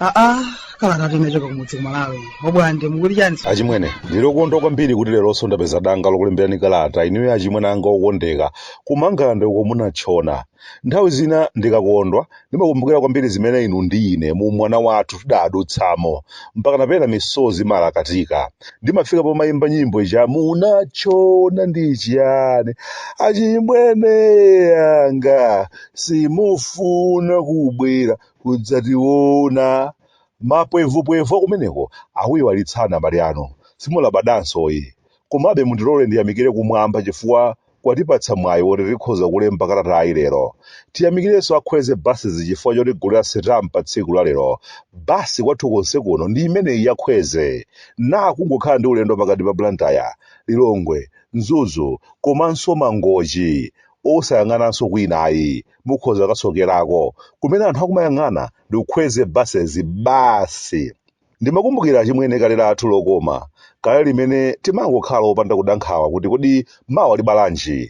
aa kalata inachoka kumudzi kumalawi obwande mukuti chani achimwene ndilokondwa kwambiri kuti leronso ndapeza danga lokulemberani kalata inuyo achimwene anga okondeka kumangalande uko munatchona Nthawi zina ndikakondwa, ndimakumbukira kwambiri zimene inu ndi ine mu umwana wathu tidaadutsamo, mpakana pena misozi imalakatika. Ndimafika pomaimba nyimbo ija Munatchona ndi chiyani, achimwene anga, simufuna kubwera kudzationa. Mapwevupwevu akumeneko akuiwalitsani abale anu. Simulabadansoyi. Komabe mundilole ndiyamikire kumwamba chifukwa kwatipatsa mwayi woti tikhoza kulemba kalatayi lero. Tiyamikirenso a Kwezy Buses chifukwa chotigulira sitampa tsiku la lero. Bus kwathu konse kuno ndi imeneyi ya Kwezy. Na kungokhala ndi ulendo pakati pa Blantyre, Lilongwe, Mzuzu komanso Mangochi. Osayang'ananso kwina ayi, mukhoza kasokerako. Kumene anthu akumayang'ana ndi ku Kwezy Buses basi. Ndimakumbukira achimwene kale lathu lokoma, kale limene timangokhala opanda kuda nkhawa kuti kodi mawa libalanji.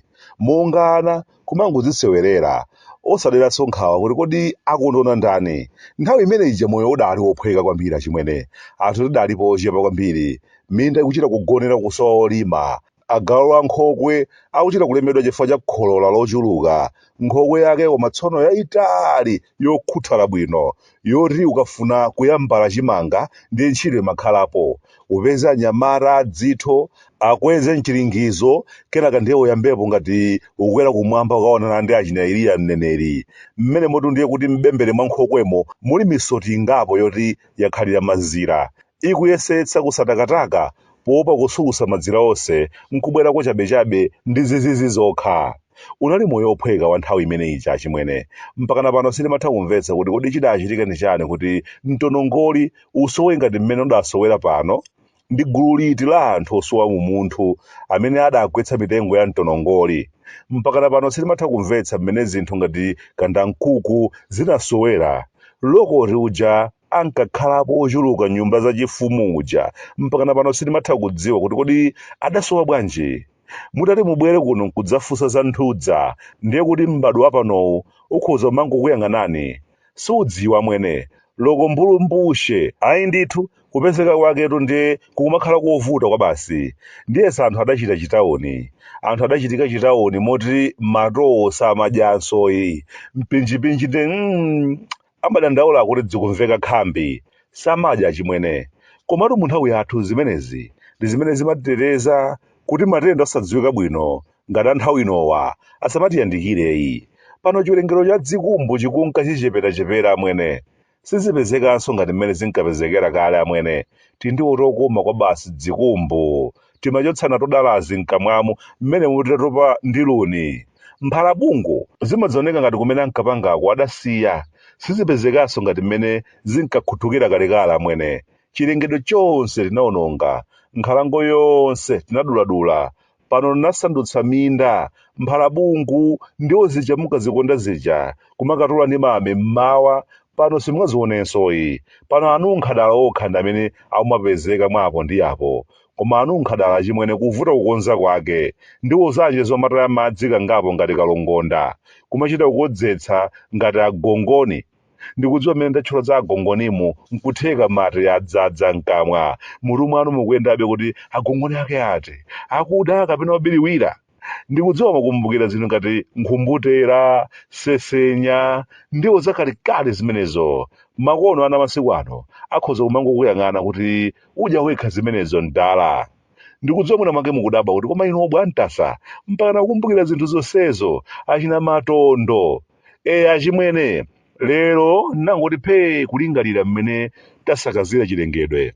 Monga ana, kumangodzisewerera, osaderanso nkhawa kuti kodi akundiona ndani. Nthawi imene ija moyo udaali wophweka kwambiri achimwene. Anthu tidalipo ochepa kwambiri, minda ikuchita kugonera kusowa olima. Agalu a nkhokwe akuchita kulemedwa chifukwa cha kholola lochuluka. Nkhokwe yake koma tsono yayitali yokhuthala bwino yoti ukafuna kuyambala chimanga ndiye ntchito imakhalapo. Upeze anyamata a dzitho akweze mchiringizo kenaka ndiye uyambepo ngati ukukwera kumwamba kukaonana ndi achina Eliya mneneri. Mmenemotu ndiye kuti m'bembere mwa nkhokwemo muli misoti ingapo yoti yakhalira mazira. Ikuyesetsa kusatakataka poopa kusukusa madzira onse n'kubwera kwachabechabe ndi zizizi zokha. Unali moyo wophweka wa nthawi imene ija achimwene. Mpakana pano sindimatha kumvetsa kuti kodi chidaachitika ndi chani kuti mtonongoli usowe ngati mmene udasowera pano? Ndi gulu liti la anthu osowa umunthu amene adagwetsa mitengo ya mtonongoli? Mpakana pano sindimatha kumvetsa mmene zinthu ngati kandankhuku zinasowera lokoti uja ankakhalapo ochuluka nyumba za chifumu uja mpakana pano sindimatha kudziwa kuti kodi adasowa bwanji mutati mubwere kuno nkudzafunsa za nthudza ndiye kuti m'badwo wapanowu ukhoza umangokuyang'anani sudziwa mwene loko mbulumbushe ayi ndithu kupezeka kwaketu ndiye kukumakhala kovuta kwabasi ndiyesa anthu adachita chitawuni anthu adachitika chitawuni moti matowo samadyansoyi mpinjipinji ndi mm, amadandaula kuti dzikumveka khambi, samadya achimwene. Komatu mu nthawi yathu zimenezi ndi zimene zimatiteteza kuti matenda osadziwika bwino ngati a nthawi inowa asamatiyandikireyi. Pano chiwerengero cha dzikumbu chikunka chicheperachepera amwene. Sizipezekanso ngati mmene zinkapezekera kale amwene. Tindiwo tokoma kwabasi dzikumbu. timachotsa nato dalazi mkamwamu mmenemu titatopa ndi luni. Mphalabungu zimadzaoneka ngati kumene ankapangako adasiya, sizipezekanso ngati mmene zinkakhuthukira kalekale amwene. Chilengedwe chonse tinaononga, nkhalango yonse tinaduladula, pano tinasandutsa minda. Mphalabungu ndiwo zija munkazikonda zija, kumakatola ndi mame mmawa, pano simungazionensoyi. Pano anunkhadala okha ndi amene amapezeka mwa apo ndi apo. Koma anunkhadala achimwene kuvuta kukonza kwake. Ndiwo zanji zomataya madzi kangapo ngati kalongonda. Kumachita kukodzetsa ngati agongoni. Ndikudziwa mmene ndatchula za agongonimu nkutheka mate adzadza mkamwa. Mmutu mwanu mukuyendabe kuti agongoni ake ati? Akuda kapena obiriwira? ndikudziwa mwakumbukira zinthu ngati nkhumbutera sesenya ndiwo zakalekale zimenezo makono ana masiku ano akhoza kumangokuyang'ana kuti udya wekha zimenezo mdala ndikudziwa mwina mwake mukudabwa kuti koma inu obwantasa mpakana kukumbukira zinthu zonsezo achina matondo e achimwene lero nangoti phee kulingalira mmene tasakazira chilengedwe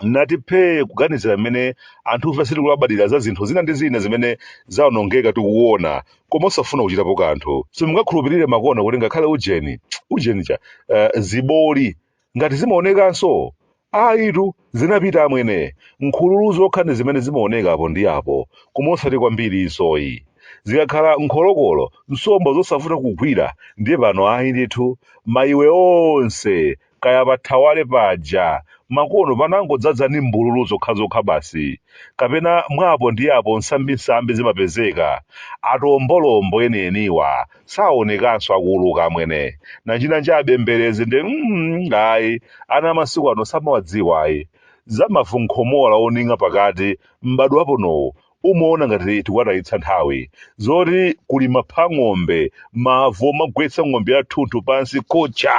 nati phee kuganizira mmene anthufe sitikulabadira za zinthu zina ndi zina zimene zawonongeka tikuona koma osafuna kuchitapo kanthu simungakhulupirire makono kuti ngakhale ujeni ujeni cha eh, ziboli ngati zimaonekanso ayitu zinapita amwene nkhululu zokha ndi zimene zimaoneka apo ndi apo koma osati kwambirinsoyi zikakhala nkholokolo nsomba zosavuta kugwira ndiye pano ayi ndithu mayiwe onse kaya pa Thawale paja makono panangodzadza ndi mbululu zokhazokha basi, kapena mwa apo ndi apo nsambinsambi zimapezeka, atombolombo enieniwa saonekanso akuuluka amwene, nanjinanji abemberezi ndi mm ayi ana amasiku ano samawadziwa ayi, za mavu nkhomola oning'a pakati m'badwo waponowu umaona ngati tikuwatayitsa nthawi zoti kuli mapha ng'ombe mavu omagwetsa ng'ombe yathunthu pansi kucha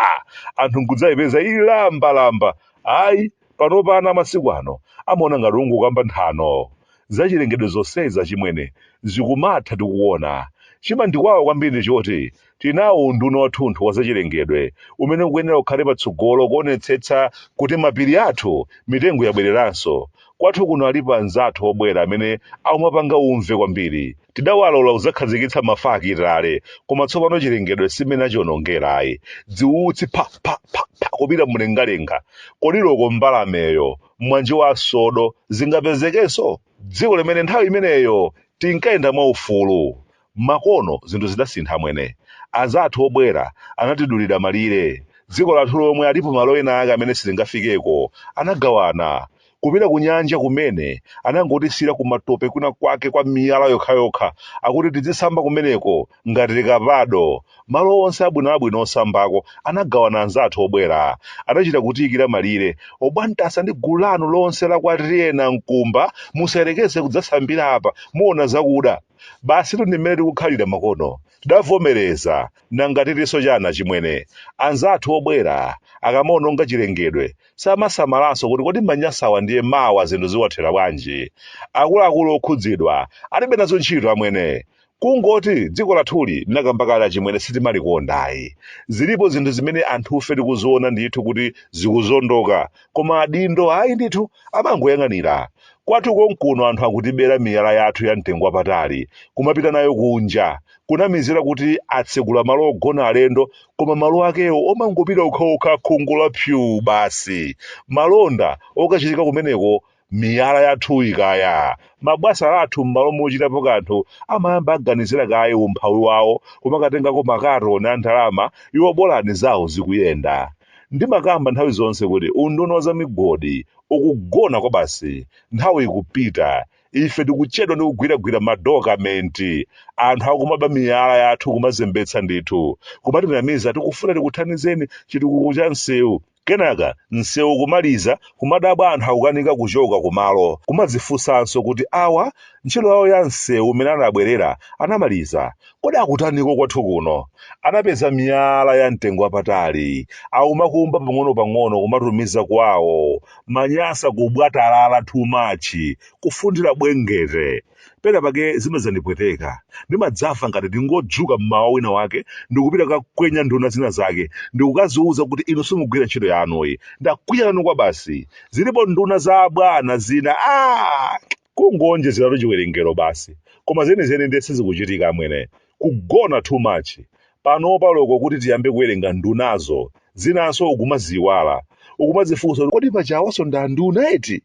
anthu nkudzayipeza ili lambalamba ayi panopa ana amasiku ano amaona ngati ungokamba nthano zachilengedwe zonsezi achimwene zikumatha tikuona chimandiwawa kwambiri ndi choti Tili nawo unduna wathunthu wa zachilengedwe umene ukuyenera kukhale patsogolo kuonetsetsa kuti mapiri athu mitengo yabwereranso. Kwathu kuno alipo anzathu obwera amene aumapanga umve kwambiri. Tidawalola kudzakhazikitsa mafakitale koma tsopano chilengedwe si mmene achionongera ayi. Dziutsi pha! pha! pha! pha! kupita mlengalenga. Kodi loko mbalameyo, mwanje wa sodo, zingapezekenso? Dziko limene nthawi imeneyo tinkayenda mwaufulu. Makono zinthu zidasintha amwene. Azathu obwera anatidulira malire. Dziko lathu lomwe alipo malo ena ake amene sitingafikeko. Anagawana. Kupita kunyanja kumene anangotisiyira kumatope kwina kwake kwa miyala yokhayokha akuti tidzisamba kumeneko ngati likapado. Malo onse abwinoabwino osambako anagawana anzathu obwera. Adachita kutiyikira malire. Obwantasa ndi gulu lanu lonse la kwa Tiyena Mkumba musayerekeze kudzasambira apa, muona zakuda. Basitu ndi mmene tikukhalira makono. Tidavomereza, nanga titinso chani achimwene? Anzathu obwera akamaononga chilengedwe, samasamalanso kuti kodi manyasawa ndiye mawa zinthu ziwathera bwanji? Akuluakulu okhudzidwa alibe nazo ntchito amwene. Kungoti dziko lathuli ndinakamba kale achimwene sitimalikonda ayi. Zilipo zinthu zimene anthufe tikuziona ndithu kuti zikuzondoka koma adindo ayi ndithu amangoyang'anira kwathu konkuno anthu akutibera miyala yathu ya mtengo wapatali kumapita nayo kunja kunamizira kuti atsegula malo ogona alendo koma malo akewo omangopita okhaokha khungu la pyu basi malonda okachitika kumeneko miyala yathuyi kaya mabwana athu m'malo mochitapo kanthu amayamba aganizira kaye umphawi wawo kumakatengako makatoni a ndalama iwo bolani zawo zikuyenda ndimakamba nthawi zonse kuti unduna wa zamigodi ukugona kwabasi nthawi ikupita ife tikuchedwa ndi kugwiragwira madokamenti anthu akumaba miyala yathu kumazembetsa ndithu kumatinamiza tikufuna tikuthandizeni chitukuko cha msewu Kenaka msewu kumaliza, kumadabwa anthu akukanika kuchoka kumalo, kumadzifunsanso kuti awa ntchito yawo ya msewu umene anabwerera anamaliza? Kodi akutaniko kwathu kuno? Anapeza miyala ya mtengo wapatali, akumakumba pang'onopang'ono kumatumiza kwawo, manyasa kubwatalala too much, kufundira bwengete. Pena pake zimadzandipweteka. Ndimadzafa ngati ndingodzuka m'mawa wina wake ndikupita kakwenya nduna zina zake ndikukaziuza kuti inu simugwira ntchito yanuyi. Ndakwiya nanu kwabasi. Zilipo nduna za abwana zina aah! Kungoonjezera tu chiwerengero basi. Koma zenizeni ndiye sizikuchitika amwene. Kugona too much. Panopa loko kuti tiyambe kuwerenga ndunazo, zinanso ukumaziiwala. Ukumadzifunsa kodi paja awanso ndi anduna eti?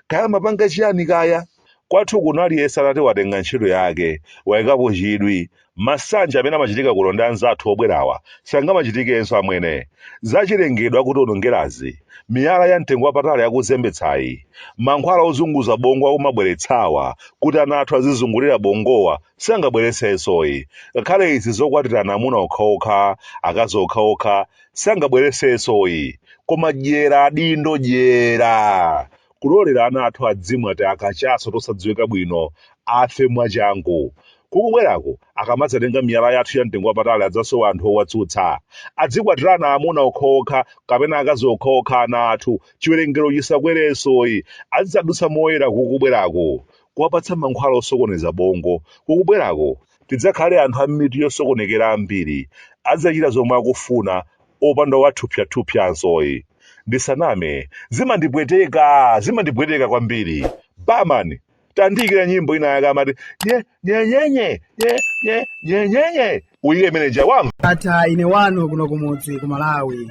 kaya amapanga chiyani kaya kwathu kuno aliyense atati watenga ntchito yake waikapo chidwi masanje amene amachitika kuno ndi anzathu obwerawa sangamachitikenso amwene zachilengedwe akutiwonongerazi miyala ya mtengo wapatali akuzembetsayi mankhwala ozunguza bongo akumabweretsawa kuti ana athu azizungulira bongowa sangabweretsenso ayi ngakhale izi zokwatirana amuna okhaokha akazi okhaokha sangabweretsenso ayi koma dyera adindo dyera kulolera ana athu adzimwa timakachaso tosadziwika bwino afe mwachangu kukubwerako akamadzatenga miyala yathu ya mtengo wapatali adzasowa anthu owatsutsa adzikwatirana amuna okhaokha kapena akazi okhaokha ana athu chiwerengero chisakwerenso ayi azidzadutsa moyera kukubwerako kuwapatsa mankhwala osokoneza bongo kukubwerako tidzakhale anthu a mitu yosokonekera ambiri, adzachita zomwe akufuna opanda owathupsathupsanso ayi ndisaname zimandipweteka zimandipweteka kwambiri barman tandiikira nyimbo ina yake amati nye nye nye nye nye nye nye nye nye uyike imene ija wamva Atha ine wanu kuno kumudzi ku Malawi.